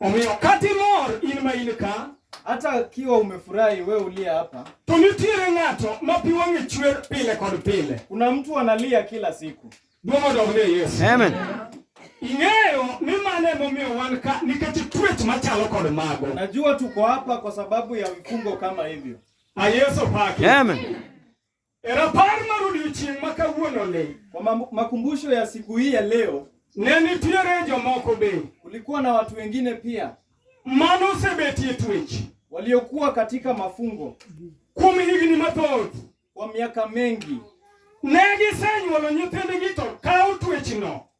Omiyo kata imor in ma in ka, hata kiwa umefurahi wewe uliye hapa, to nitiere ng'ato ma pi wang'e chwer pile kod pile. kuna mtu analia kila siku. Duong' odog ne Yesu. Amen. Ing'eyo ni mano emomiyo wan ka nikech twech machalo kod mago. Najua tuko hapa kwa sababu ya vifungo kama hivyo. A Yesu pake. Amen. E rapar mar odiechieng' ma kawuononi, Kwa mam- makumbusho ya siku hii ya leo, ne nitiere jomoko be kulikuwa na watu wengine pia mane osebetie twech waliokuwa katika mafungo kuom higni mathoth. kwa miaka mengi. Ne gisenywolo nyithindgi to kawo twechno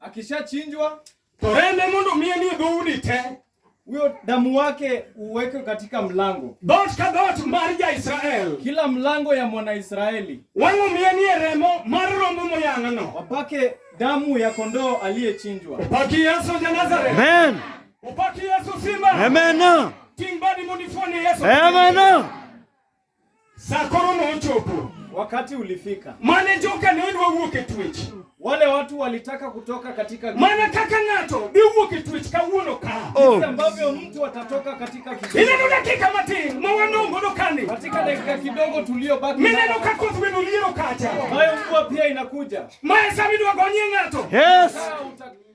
Akishachinjwa torende mondo miye ni dhoudi te huyo damu wake uweke katika mlango dhoot ka dhoot mar ja-Israel, kila mlango ya Mwanaisraeli, wang'o miye ni remo mar rombo moyang'no, wapake damu ya kondoo aliyechinjwa. opaki Yesu ja Nazareth, Amen. opaki Yesu simba, Amen. ting' badi mondo ifuone Yesu. Amen. Saa koro nochopo. Wakati ulifika. Mane joka ne odwa wuok e twech. Wale watu walitaka kutoka katika Mana kaka ng'ato bi wuok e twech kawuono ka. Oh. Jinsi ambavyo mtu atatoka katika kitu. Ile ndo dakika matin ma wanongo do kani. Katika dakika kidogo tuliobaki. Mimi ndo kako tuwe ndio kacha. Hayo mvua pia inakuja. Maesa midwa gonye ng'ato. Yes.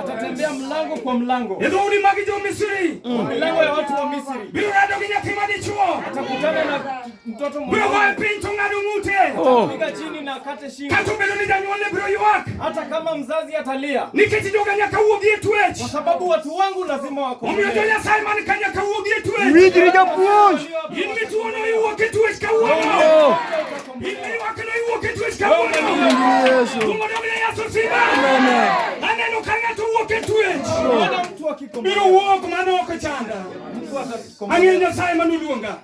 Atatembea mlango kwa mlango. Nidhuri magi jo Misri. Mm. Milango ya watu wa Misri. Biro rado gi nyathi ma dichuo. Atakutana na mtoto mmoja. Biro goyo piny to ng'ado ng'ute. Oh. Atapiga chini na kate shingo. Kata obedo ni janyuolne biro ywak. Hata kama mzazi atalia. Nikech joga nyaka wuogi e tuech. Kwa sababu watu wangu lazima wako. Omiyo jo Nyasaye man ka nyaka wuogi e tuech. Winjri japuonj. In mituono iwuok e tuech kawuono. Oh. Ang'eyo Nyasaye manoluonga.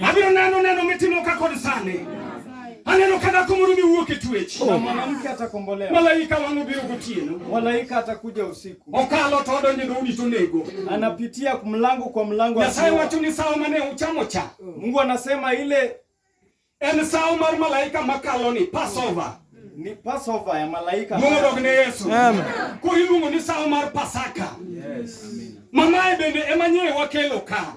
Abiro neno neno mitimo ka kod sani. Aneno ka dhako moro miwuok e twech. Oh. Mwanamke atakombolewa. Malaika wangu biro gotieno. Malaika atakuja usiku. Okalo to odonjo e dhoudi to nego. Anapitia mlango kwa mlango. Nyasaye wacho ni sawa mane uchamo cha. Mungu anasema ile En sawo mar malaika makalo ni Passover. Ni Passover ya malaika. Luongo dog ne Yesu. Amen. Koro iluongo ni sawo mar Pasaka. Yes. Amen. Mamaye bende ema nyewe wakelo ka.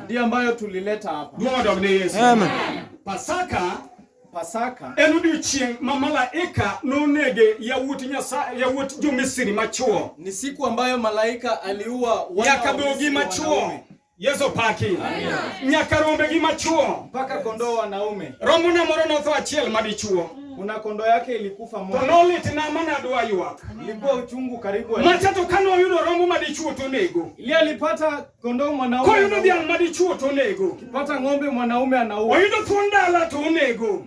Ndiyo ambayo tulileta hapa. Luongo dog ne Yesu. Amen. Pasaka Pasaka en odiechieng' ma malaika nonege yawuot Nyasaye yawuot jo-Misri machwo. Ni siku ambayo malaika aliua wana yakadogi machwo Yesu paki. Nyaka rombe gi machuo. Mpaka kondoo wanaume. Rombo na moro notho achiel madichuo. Una kondoo yake ilikufa moja. Tonolit na mana dwa ywak. Ilikuwa uchungu karibu. Macha to kano yudo rombo madichuo to nego. Ile alipata kondoo mwanaume. Koyudo dhiang' madichuo to nego. Kipata ng'ombe mwanaume anaua. Oyudo thuon dala to onego.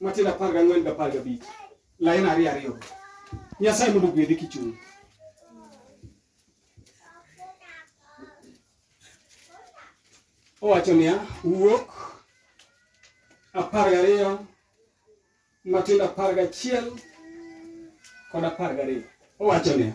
Matendo apar gang'wen gi apar gabich lain ariyo ariyo Nyasaye mondo ogwedhi kichung' owacho niya wuok apar gariyo Matendo apar gachiel kod apar gariyo owacho niya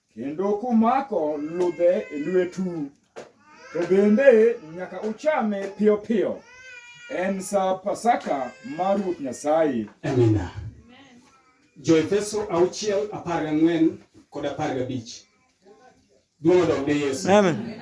Kendo kumako ludhe e lwetu, to bende nyaka uchame piyo piyo. En sa Pasaka mar Ruoth Nyasaye. Amina. Joefeso auchiel apar gang'wen kod apar gabich. Duong' odog ne Yesu. Amen.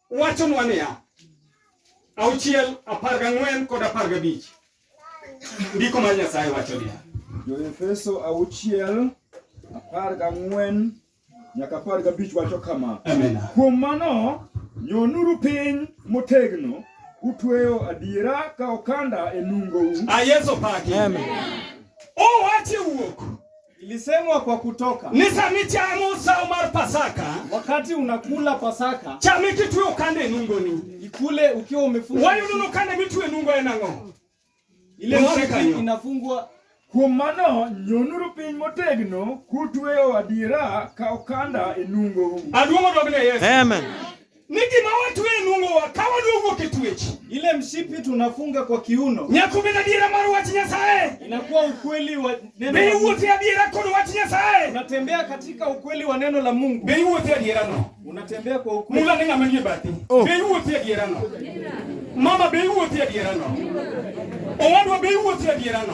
wachonwa niya, auchiel, apar gang'wen kod apar gabich. Ndiko mar Nyasaye wacho niya. Jo-Efeso auchiel, apar gang'wen nyaka apar gabich wacho kama. Amen. Kuom mano, nyonuru piny motegno utweyo adiera ka okanda e nungou. A ah, Yesu paki. Amen. Owache wuok. Ilisemwa kwa Kutoka. Nisami cha Musa umar Pasaka. Wakati unakula Pasaka. Cha miki tuwe ukande nungo ni. Ikule ukiwa umefunga. Wayo nuno kande mituwe nungo ya nango. Ile mwaka inafungwa Kuom mano, nyonuru piny motegno kutweyo adiera ka okanda e nungou. Aduong' odogne Yesu. Amen. Ni gima watwe e nung'owa ka wadwowuok e twech. Ile mshipi tunafunga kwa kiuno. Nyako bed adiera mar wach Nyasaye. Inakuwa ukweli wa neno. Be iwuothe adiera kod wach Nyasaye. Unatembea katika ukweli wa neno la Mungu. Be iwuothe adiera no. Unatembea kwa ukweli. Mula ni ng'ama nie bathi. Oh. Be iwuothe adiera no. Mama be iwuothe adiera no. Owadwa be iwuothe adiera no.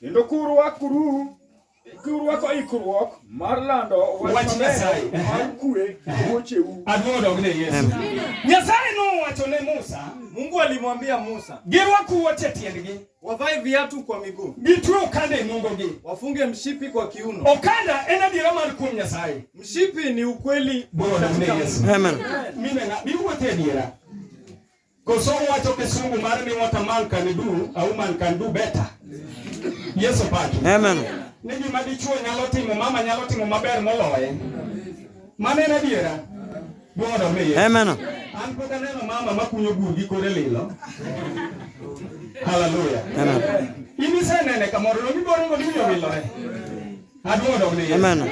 Kendo kurwakuru kurwako ikruok mar lando wach Nyasaye mar kue wuocheu. Adwodogne Yesu. Nyasaye nowacho ne Musa, Mungu alimwambia Musa, girwak wuoch e tiendgi, wavae viatu kwa miguu, gitwe okanda e nungogi, wafunge mshipi kwa kiuno. Okanda en adiera mar kuom Nyasaye, mshipi ni ukweli. Adwodogne Yesu. Amen. Mine na biwuothe adiera Koso wacho kisungu mar ni what a man can do, a woman can do better. Yesu paki. Amen. Ni gima dichuo nyalo timo, mama nyalo timo maber moloye. Mane na diera. Bwodo mi. Amen. An pok aneno mama makunyo bur gi kore lilo. Hallelujah. Amen. Ini senene kamoro no giboro ngo dinyo lilo. Adwodo mi. Amen.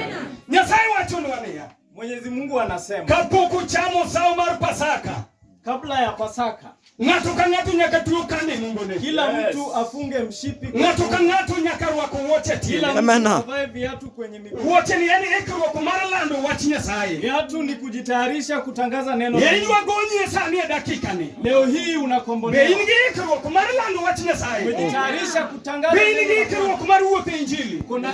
Nyasaye wachonwa niya. Mwenyezi Mungu anasema kapok uchamo sawo mar Pasaka, kabla ya Pasaka ng'ato ka ng'ato nyaka tuo kande nungone, kila mtu afunge mshipi, ng'ato ka ng'ato nyaka rwako wuoche tiende, amena, avae viatu kwenye miguu. Wuoche ni yani ikruok mar lando wach Nyasaye, viatu ni kujitayarisha kutangaza neno. Ye in wagonyi e sani e dakika ni, leo hii unakombolewa. Be in gi ikruok mar lando wach Nyasaye, umejitayarisha kutangaza. Be in gi ikruok mar wuotho e Injili, kuna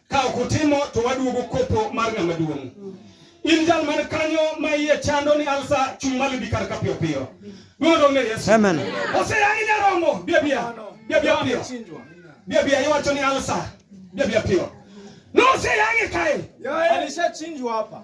Ka ok utimo to waduogo kopo mar ng'ama duong'. In jal man kanyo ma iye chando ni alsa chung' malo bi kar ka piyo piyo. Duondo onge Yesu. Amen. Oseyangi nyaromo. Bia bia. Bia bia piyo. Bia bia iwacho ni alsa. Bia bia piyo. Noseyangi kae. Alishachinjwa hapa.